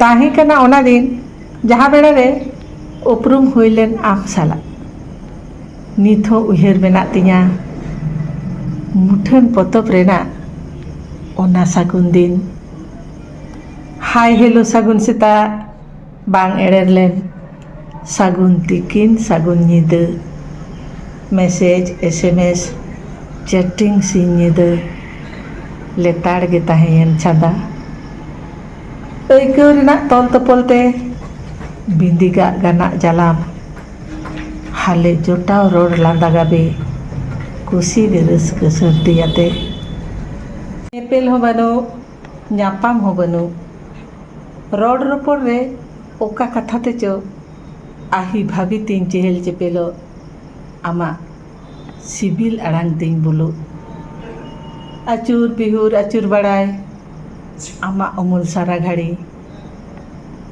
ᱛᱟᱦᱮᱸ ᱠᱟᱱᱟ ᱚᱱᱟ ᱫᱤᱱ ᱡᱟᱦᱟᱸ ᱵᱮᱲᱟ ᱨᱮ ᱩᱯᱨᱩᱢ ᱦᱩᱭ ᱞᱮᱱ ᱟᱢ ᱥᱟᱞᱟᱜ ᱱᱤᱛ ᱦᱚᱸ ᱩᱭᱦᱟᱹᱨ ᱢᱮᱱᱟᱜ ᱛᱤᱧᱟ ᱢᱩᱴᱷᱟᱹᱱ ᱯᱚᱛᱚᱵ ᱨᱮᱱᱟᱜ ᱚᱱᱟ ᱥᱟᱹᱜᱩᱱ ᱫᱤᱱ ᱦᱟᱭ ᱦᱮᱞᱳ ᱥᱟᱹᱜᱩᱱ ᱥᱮᱛᱟᱜ ᱵᱟᱝ ᱮᱲᱮᱨ ᱞᱮᱱ ᱥᱟᱹᱜᱩᱱ ᱛᱤᱠᱤᱱ ᱥᱟᱹᱜᱩᱱ ᱧᱤᱫᱟᱹ ᱢᱮᱥᱮᱡᱽ ᱮᱥᱮᱢᱮᱥ ᱪᱮᱴᱤᱝ ᱥᱤᱧ ᱧᱤᱫᱟᱹ ᱞᱮᱛᱟᱲ ᱜᱮ ᱛᱟᱦᱮᱸᱭᱮᱱ ᱪᱷᱟᱫᱟ ᱟᱹᱭᱠᱟᱹᱣ ᱨᱮᱱᱟᱜ ᱛᱚᱞ ᱛᱚᱯᱚᱞ ᱛᱮ ᱵᱤᱸᱫᱤ ᱜᱟᱜ ᱜᱟᱱᱟᱜ ᱡᱟᱞᱟᱢ ᱦᱟᱞᱮ ᱡᱚᱴᱟᱣ ᱨᱚᱲ ᱞᱟᱸᱫᱟ ᱜᱟᱵᱮ ᱠᱩᱥᱤ ᱜᱮ ᱨᱟᱹᱥᱠᱟᱹ ᱥᱟᱹᱨᱫᱤᱭᱟᱛᱮ ᱧᱮᱯᱮᱞ ᱦᱚᱸ ᱵᱟᱹᱱᱩᱜ ᱧᱟᱯᱟᱢ ᱦᱚᱸ ᱵᱟᱹᱱᱩᱜ᱾ ᱨᱚᱲ ᱨᱚᱯᱚᱲ ᱨᱮ ᱚᱠᱟ ᱠᱟᱛᱷᱟ ᱛᱮᱪᱚ ᱟᱹᱦᱤ ᱵᱷᱟᱹᱵᱤ ᱛᱤᱧ ᱪᱮᱦᱮᱞ ᱪᱮᱯᱮᱞᱚᱜ ᱟᱢᱟᱜ ᱥᱤᱵᱤᱞ ᱟᱲᱟᱝ ᱛᱤᱧ ᱵᱩᱞᱩᱜ᱾ ᱟᱹᱪᱩᱨ ᱵᱤᱦᱩᱨ ᱟᱹᱪᱩᱨ ᱵᱟᱲᱟᱭ ᱟᱢᱟᱜ ᱩᱢᱩᱞ ᱥᱟᱨᱟ ᱜᱷᱟᱹᱲᱤ᱾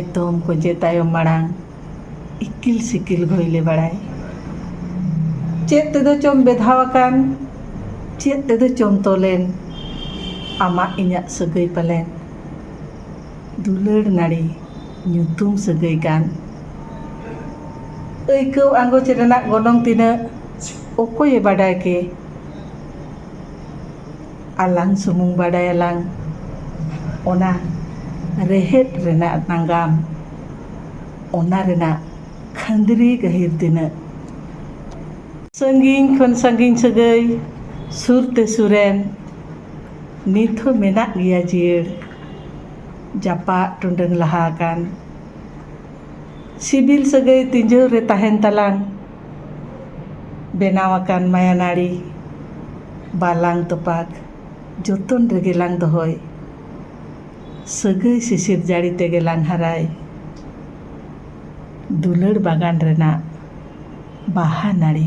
ᱮᱛᱚᱢ ᱠᱚᱧᱪᱮ ᱛᱟᱭᱚᱢ ᱢᱟᱲᱟᱝ᱾ ᱤᱠᱤᱞ ᱥᱤᱠᱤᱞ ᱜᱷᱚᱭᱞᱮ ᱵᱟᱲᱟᱭ᱾ ᱪᱮᱫ ᱛᱮᱫᱚ ᱪᱚᱢ ᱵᱮᱫᱷᱟᱣ ᱟᱠᱟᱱ ᱪᱮᱫ ᱛᱮᱫᱚ ᱪᱚᱢ ᱛᱚᱞᱮᱱ ᱟᱢᱟᱜ ᱤᱧᱟᱜ ᱥᱟᱹᱜᱟᱹᱭ ᱯᱟᱞᱮᱱ ᱫᱩᱞᱟᱹᱲ ᱱᱟᱹᱲᱤ ᱧᱩᱛᱩᱢ ᱥᱟᱹᱜᱟᱹᱭ ᱠᱟᱱ᱾ ᱟᱹᱭᱠᱟᱹᱣ ᱟᱸᱜᱚᱪ ᱨᱮᱱᱟᱜ ᱜᱚᱱᱚᱝ ᱛᱤᱱᱟᱹᱜ ᱚᱠᱚᱭᱮ ᱵᱟᱰᱟᱭ ᱠᱮ᱾ ᱟᱞᱟᱝ ᱥᱩᱢᱩᱝ ᱵᱟᱰᱟᱭᱟᱞᱟᱝ ᱚᱱᱟ ᱨᱮᱦᱮᱫ ᱨᱮᱱᱟᱜ ᱱᱟᱜᱟᱢ ᱚᱱᱟ ᱨᱮᱱᱟᱜ ᱠᱷᱟᱺᱫᱽᱨᱤ ᱜᱟᱹᱦᱤᱨ ᱛᱤᱱᱟᱹᱜ ᱥᱟᱺᱜᱤᱧ ᱠᱷᱚᱱ ᱥᱟᱺᱜᱤᱧ ᱥᱟᱹᱜᱟᱹᱭ ᱥᱩᱨ ᱛᱮ ᱥᱩᱨᱮᱱ ᱱᱤᱛ ᱦᱚᱸ ᱢᱮᱱᱟᱜ ᱜᱮᱭᱟ ᱡᱤᱭᱟᱹᱲ ᱡᱟᱯᱟᱜ ᱴᱩᱰᱟᱹᱝ ᱞᱟᱦᱟ ᱟᱠᱟᱱ ᱥᱤᱵᱤᱞ ᱥᱟᱹᱜᱟᱹᱭ ᱛᱤᱡᱚᱨᱮ ᱛᱟᱦᱮᱱ ᱛᱟᱞᱟᱝ ᱵᱮᱱᱟᱣ ᱟᱠᱟᱱ ᱢᱟᱭᱟᱱᱟᱹᱲᱤ ᱵᱟᱞᱟᱝ ᱛᱚᱯᱟᱜᱽ ᱡᱚᱛᱚᱱ ᱨᱮᱜᱮ ᱞᱟᱝ ᱫᱚᱦᱚᱭ ᱥᱟᱹᱜᱟᱹᱭ ᱥᱤᱥᱤᱨ ᱡᱟᱹᱲᱤ ᱛᱮᱜᱮ ᱞᱟᱝ ᱦᱟᱨᱟᱭ ᱫᱩᱞᱟᱹᱲ ᱵᱟᱜᱟᱱ ᱨᱮᱱᱟᱜ ᱵᱟᱦᱟ ᱱᱟᱹᱲᱤ